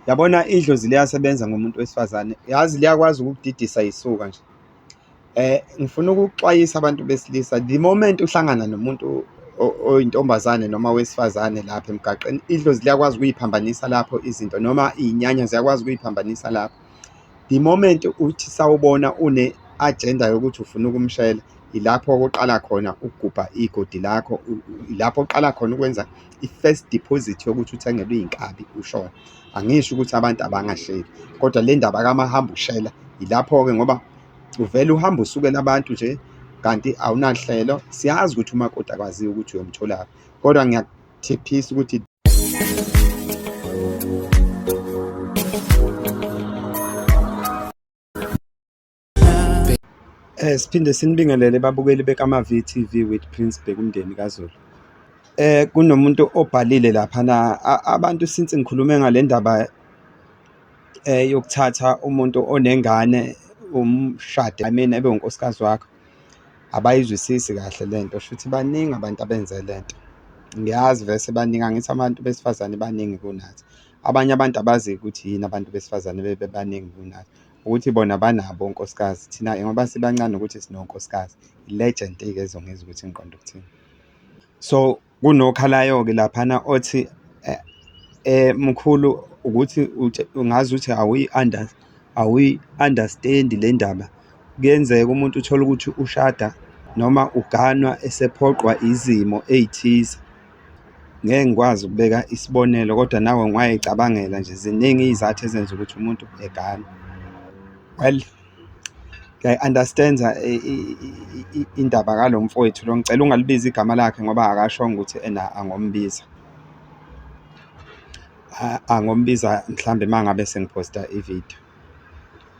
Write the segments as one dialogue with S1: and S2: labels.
S1: Yabona idlozi liyasebenza ngomuntu wesifazane, yazi liyakwazi ukukudidisa yisuka nje. Eh, ngifuna ukuxwayisa abantu besilisa, the moment uhlangana nomuntu oyintombazane noma wesifazane lapha emgaqeni, idlozi liyakwazi ukuyiphambanisa lapho izinto noma iy'nyanya ziyakwazi ukuyiphambanisa lapho. The moment uthi sawubona une-agenda yokuthi ufuna ukumshela, ilapho kuqala khona ukugubha igodi lakho, ilapho oqala khona ukwenza i-first deposit yokuthi uthengelwe iy'nkabi ushona angisho ukuthi abantu abangahleli kodwa le ndaba kamahamba ushela yilapho-ke ngoba uvele uhamba usukela abantu nje kanti awunahlelo siyazi ukuthi umakoti akwaziyo ukuthi uyomtholaphi kodwa ngiyakuthiphisa ukuthi Eh siphinde sinibingelele babukeli bekama VTV with Prince Bhekumndeni kaZulu. Eh kunomuntu obhalile lapha na abantu since ngikhulume ngale ndaba eh yokuthatha umuntu onengane umshade I mean ebe unkosikazi wakho abayizwisisi kahle lento shuthi baningi abantu abenze lento. Ngiyazi vese baningi angithi abantu besifazane baningi kunathi. Abanye abantu abazi ukuthi yini abantu besifazane bebebaningi kunathi. Ukuthi bona banabo onkosikazi thina-ke ngoba sibancane ukuthi sinonkosikazi i-legend-ke ezongizwa ukuthi ngiqonda ukuthini so kunokhalayo-ke laphana othi eh, eh mkhulu ukuthi ungazi ukuthi awuyi-under awuyi-understand le ndaba kuyenzeka umuntu uthole ukuthi ushada noma uganwa esephoqwa izimo ey'thize Ngeke ngikwazi ukubeka isibonelo kodwa nawe ungayicabangela nje ziningi iy'zathu ezenza ukuthi umuntu egane. Well ngiyayi-understand-a indaba kalo mfowethu lo, ngicela ungalibizi igama lakhe ngoba akashongo ukuthi ena angombiza. Angombiza mhlawumbe uma ngabe sengiphosta ividiyo.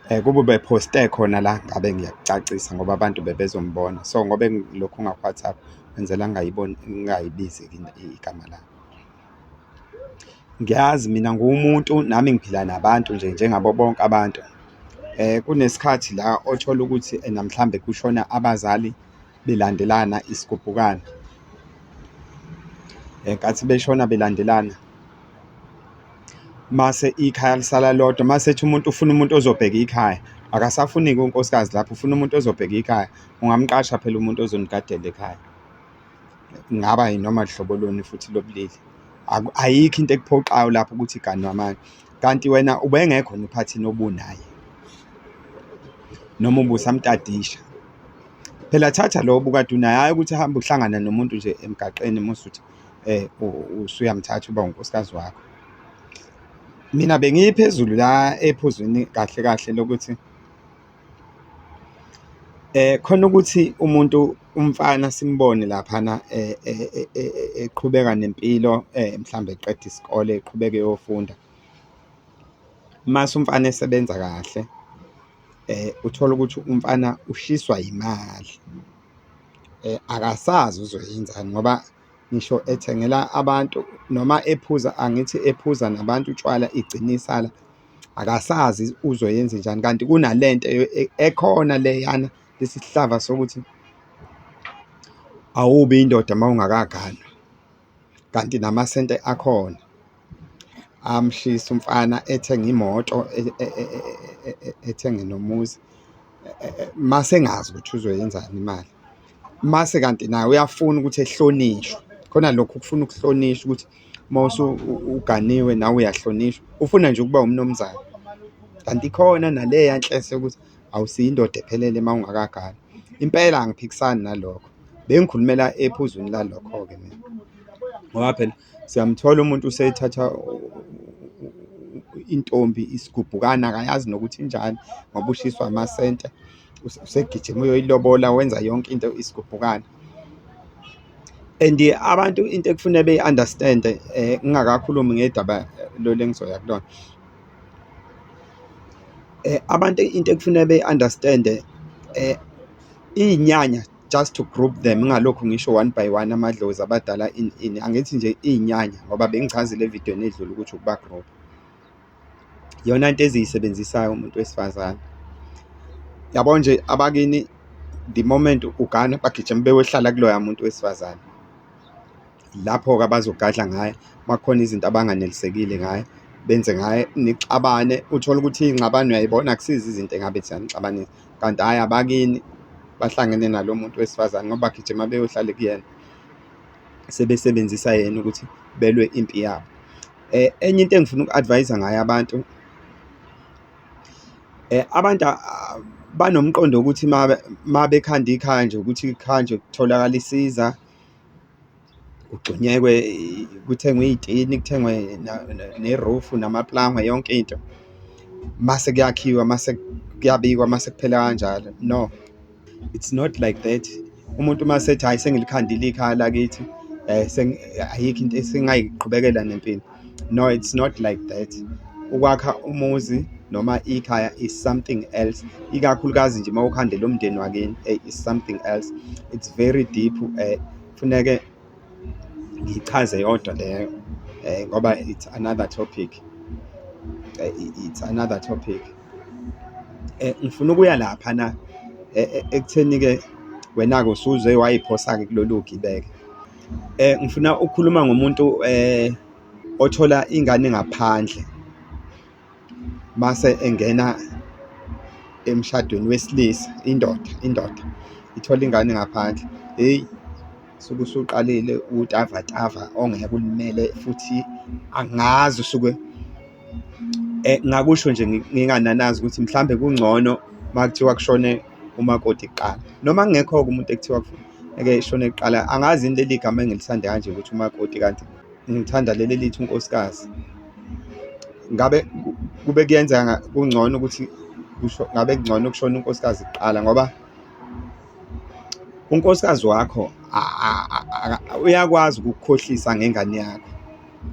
S1: Eh, kuba ubephoste khona la ngabe ngiyakucacisa ngoba abantu bebezombona so ngoba lokhu ngaku-whatsapp kwenzela ngingayibizi igama lami ngiyazi mina nguwumuntu nami ngiphila nabantu nje njengabo bonke abantu um kunesikhathi la othola ukuthi namhlawumbe kushona abazali belandelana isigubhukane enkathi eh, beshona belandelana mase ikhaya lisala lodwa mase ethi umuntu ufuna umuntu ozobheka ikhaya akasafuniki unkosikazi lapho ufuna umuntu ozobheka ikhaya ungamqasha phela umuntu ozonigadela ekhaya ngaba yinoma hlobo luni futhi lobulili ayikho into ekuphoxayo lapho ukuthi iganwa manje Kanti wena ubengekho nophathini obunaye noma ubusamtadisha phela thatha lo bukade unaye hhayi ukuthi hambe uhlangana nomuntu nje emgaqeni musuthi eh usuyamthatha uba unkosikazi wakho mina bengiphezulu la ephuzwini kahle kahle lokuthi Khona ukuthi umuntu umfana simbone laphana eqhubeka nempilo mhlawumbe eqeda isikole eqhubeke eyofunda, mase umfana esebenza kahle uthole ukuthi umfana ushiswa yimali akasazi uzoyenzani ngoba. ngisho ethengela abantu noma ephuza angithi ephuza nabantu utshwala igcinisa la akasazi uzoyenza njani kanti kunalento e, ekhona leyana lesihlava sokuthi awubi indoda uma ungakaganwa kanti namasente akhona amshise umfana ethenge imoto ethenge nomuzi mase engazi ukuthi uzoyenzani imali, mase kanti naye uyafuna ukuthi ehlonishwe khona lokho ukufuna ukuhlonishwa ukuthi mawuse uganiwe nawe uyahlonishwa, ufuna nje ukuba umnumzane. Kanti ikhona naleya nhlese yokuthi awusiyo indoda ephelele uma ungakagani, impela angiphikisani nalokho bengikhulumela ephuzwini lalokho-ke mina ngoba phela. Siyamthola umuntu useyithatha intombi isigubhukana akayazi nokuthi injani ngoba ushiswa amasente usegijima uyoyilobola wenza yonke into isigubhukana and abantu into ekufuneka beyi-understand um eh, ngingakakhulumi ngedaba eh, lolu engizoya kulona um abantu into ekufuneka beyi-understand um iyinyanya just to group them ngalokhu ngisho one by one amadlozi abadala in in angithi nje iy'nyanya ngoba bengichazile evidweni edlule ukuthi ukuba group yona into eziyisebenzisayo umuntu wesifazane yabo nje abakini the moment ugana bagijima beyohlala kuloya muntu wesifazane lapho-ke abazogadla ngaye makukhona izinto abanganelisekile ngaye benze ngaye nixabane uthole ukuthi iy'ngxabano uyayibona akusizi izinto engabe ziyanixabanisa kanti hhayi abakini bahlangene nalo muntu wesifazane ngoba bagijima beyohlale kuyena sebesebenzisa yena ukuthi belwe impi yabo um enye into engifuna uku-advayisa ngayo abantu um abantu ah, banomqondo wokuthi ma bekhanda ikhaya nje ukuthi ikhaya nje kutholakala isiza kugxunyekwe kuthengwe iy'tini kuthengwe nerufu namaplangwe yonke into mase kuyakhiwa mase kuyabikwa mase kuphela kanjalo no it's not like that umuntu uma sethi hhayi sengilikhandile ikhaya lakithi um ayikho into esingayiqhubekela nempilo no it's not like that ukwakha umuzi noma ikhaya is something else ikakhulukazi nje uma ukhandela umndeni wakini eyi is something else it's very deep um Funeke ngichaze yodwa leyo eh, ngoba it's another topic eh, it's another topic eh, ngifuna ukuya lapha na eh, eh, ekutheni ke wena-ke usuze wayiphosa-ke kulolu gibeke eh ngifuna ukukhuluma ngomuntu eh othola ingane ngaphandle mase engena emshadweni wesilisa indoda indoda ithola ingane ngaphandle heyi suke usuqalile utavatava ongeke ulimele futhi angazi usuke eh, ngakusho nje ngingananazi ukuthi mhlambe kungcono makuthiwa kushone umakoti kuqala noma kungekho-ke umuntu ekuthiwa ngeke ishone kuqala angazi yini leli gama engilisande kanje ukuthi umakoti kanti Ngithanda leli lithi unkosikazi. Ngabe kube kuyenzeka kungcono ukuthi kusho ngabe kungcono ukushona unkosikazi kuqala ngoba unkosikazi wakho uyakwazi ukukukhohlisa ngengane yakho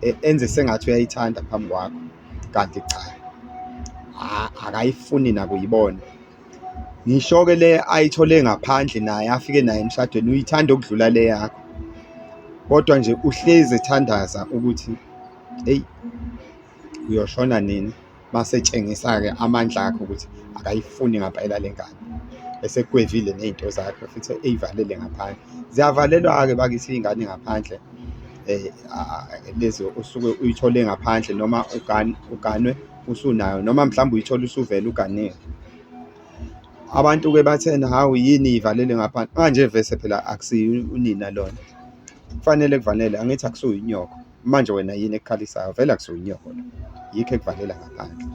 S1: e, enze sengathi uyayithanda phambi kwakho kanti cha akayifuni nakuyibona Ngisho-ke le ayithole ngaphandle naye afike naye emshadweni uyithanda ukudlula le yakho, kodwa nje uhlezi ethandaza ukuthi eyi uyoshona nini mase etshengisa-ke amandla akhe ukuthi akayifuni ngampela le ngane esekwevile ney'nto zakhe futhi ey'valele ngaphandle ziyavalelwa-ke bakithi iy'ngane ngaphandle um lezi osuke uyithole ngaphandle noma uganwe. usunayo noma mhlawumbe uyithola usuvele uganile abantu-ke bathena hawu yini ivalele ngaphandle manje vese phela akusiyo unina lona kufanele kuvalele angithi akusuye inyoko manje wena yini ekukhalisayo vele akusuye inyoko lo yikho ekuvalela ngaphandle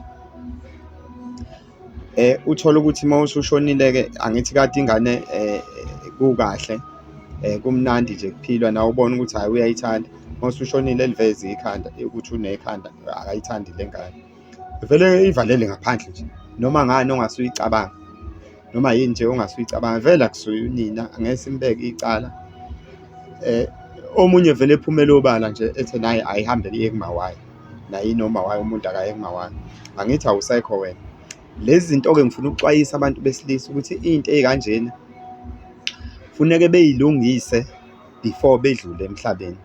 S1: eh uthola ukuthi uma usushonile-ke angithi kade ingane eh kukahle eh kumnandi nje kuphilwa nawe ubona ukuthi hhayi uyayithanda Masushonile elivezi ikhanda ukuthi unekhanda akayithandi le ngane. Vele ivalele ngaphandle nje. Noma ngani ongasuyicabanga. Noma yini nje ongasuyicabanga vele akusuye unina angeke simbeke icala. Eh omunye vele ephumela obala nje ethe naye ayihambele iye kumawayo. Naye noma wayo umuntu akaye kumawayo. Angithi awusekho wena. Lezi zinto ke ngifuna ukuxwayisa abantu besilisa ukuthi into ekanjena funeke beyilungise. before bedlule emhlabeni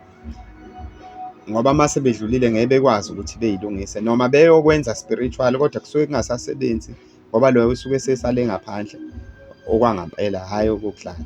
S1: ngoba uma sebedlulile ngeke bekwazi ukuthi beyilungise noma beyokwenza spiritual kodwa kusuke kungasasebenzi ngoba loyo usuke sesale ngaphandle okwangampela hhayi okokudlala.